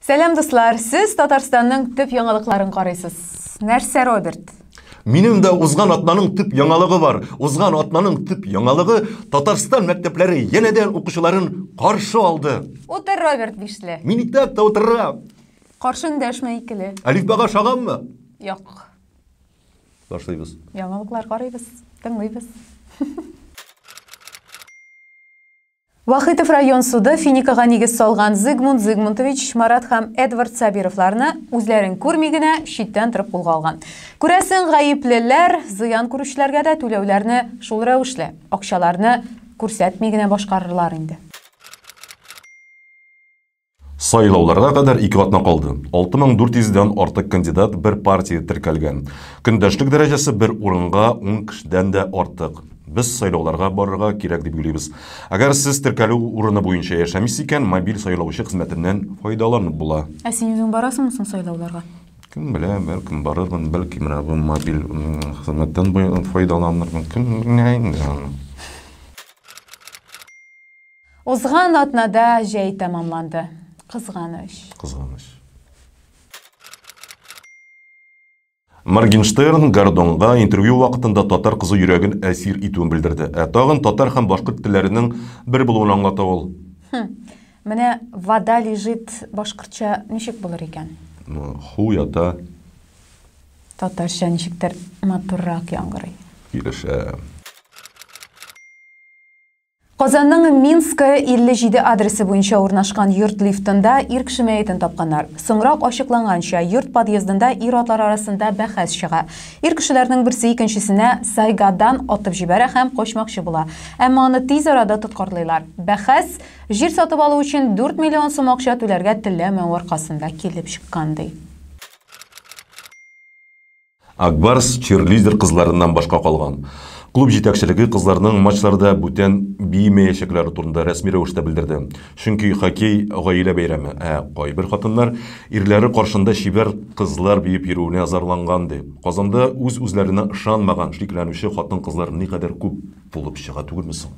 Сәлам дуслар, сез Татарстанның төп яңалыкларын карыйсыз. Нәрсә, Роберт? Минем дә узган атнаның төп яңалыгы бар. Узган атнаның төп яңалыгы Татарстан мәктәпләре янәдән укучыларын каршы алды. Утыр, Роберт Бишле. Мин итәк тә утырам. Каршы эндәшмә икеле. Әлифбага шаганмы? Юк. Башлыйбыз. Яңалыклар карыйбыз, тыңлыйбыз. Вахитов район суды Финикага нигез салган Зигмунд Зигмунтович, Марат һәм Эдвард Сабировларны үзләрен күрми генә читтән торып кулга алган. Күрәсең, гаеплеләр зыян күрүчеләргә дә түләүләрне шул рәвешле, акчаларны күрсәтми генә башкарырлар инде. Сайлауларга кадәр ике атна калды. 6400 дән артык кандидат бер партия теркәлгән. Көндәшлек дәрәҗәсе бер урынга ун кешедән дә артык. Без сайлауларга барырга кирәк дип уйлыйбыз. Әгәр сез теркәлү урыны буенча яшәмисез икән, мобиль сайлаучы хезмәтеннән файдаланып була. Ә син үзең барасыңмы соң сайлауларга? Кем белә, бәлкем барырмын, бәлки менә бу мобиль хезмәттән файдаланырмын. Кем белә инде аны. Узган атнада җәй тәмамланды. Кызганыч. Кызганыч. Моргенштерн Гордонга интервью вакытында татар кызы йөрәген әсир итүен белдерде. Ә тагын татар һәм башкорт телләренең бер булуын аңлата ул. Хм. Менә вода лежит башкортча ничек булыр икән? Ну, ху ята. Татарча ничектер матуррак яңгырый. Килешәм. Казанның Минская 57 адресы буенча урнашкан йорт лифтында ир кеше мәетен тапканнар. Соңрак ачыкланганча, йорт подъездында ир-атлар арасында бәхәс чыга. Ир кешеләрнең берсе икенчесенә сайгадан атып җибәрә һәм качмакчы була. Әмма аны тиз арада тоткарлыйлар. Бәхәс җир сатып алу өчен 4 миллион сум акча түләргә теләмәү аркасында килеп чыккан, ди. Ак Барс чирлидер кызларыннан башка калган. Клуб җитәкчелеге кызларның матчларда бүтән биемәячәкләре турында рәсми рәвештә белдерде. Чөнки хоккей, гаилә бәйрәме, ә кайбер хатыннар ирләре каршында чибәр кызлар биеп йөрүенә зарланган, ди. Казанда үз-үзләренә ышанмаган, шикләнүче хатын-кызлар никадәр күп булып чыга түгелме соң?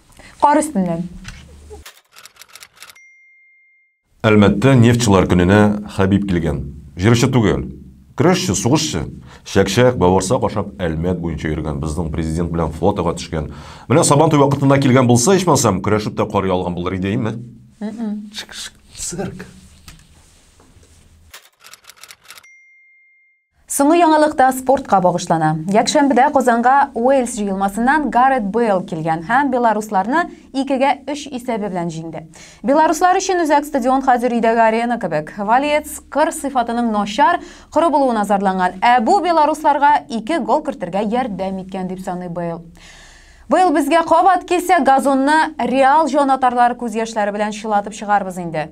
Кар өстеннән. Әлмәттә нефтьчылар көненә Хәбиб килгән. Җырчы түгел. Көрәшче, сугышчы. Чәкчәк, бавырсак ашап Әлмәт буенча йөргән, безнең президент белән фотога төшкән. Менә Сабантуй вакытында килгән булса, ичмасам, көрәшеп тә карый алган булыр иде, әйме? Цирк. Соңгы яңалык та спортка багышлана. Якшәмбедә Казанга Уэльс җыелмасыннан Гаррет Бейл килгән һәм белорусларны 2-гә 3 исәбе белән җиңде. Белоруслар өчен үзәк стадион хәзер өйдәге арена кебек. Валиец кыр сыйфатының начар, коры булуына зарланган, ә бу белорусларга ике гол кертергә ярдәм иткән, дип саный Бейл. Быел безгә кабат килсә, газонны Реал җанатарлар күз яшьләре белән чылатып чыгарбыз инде.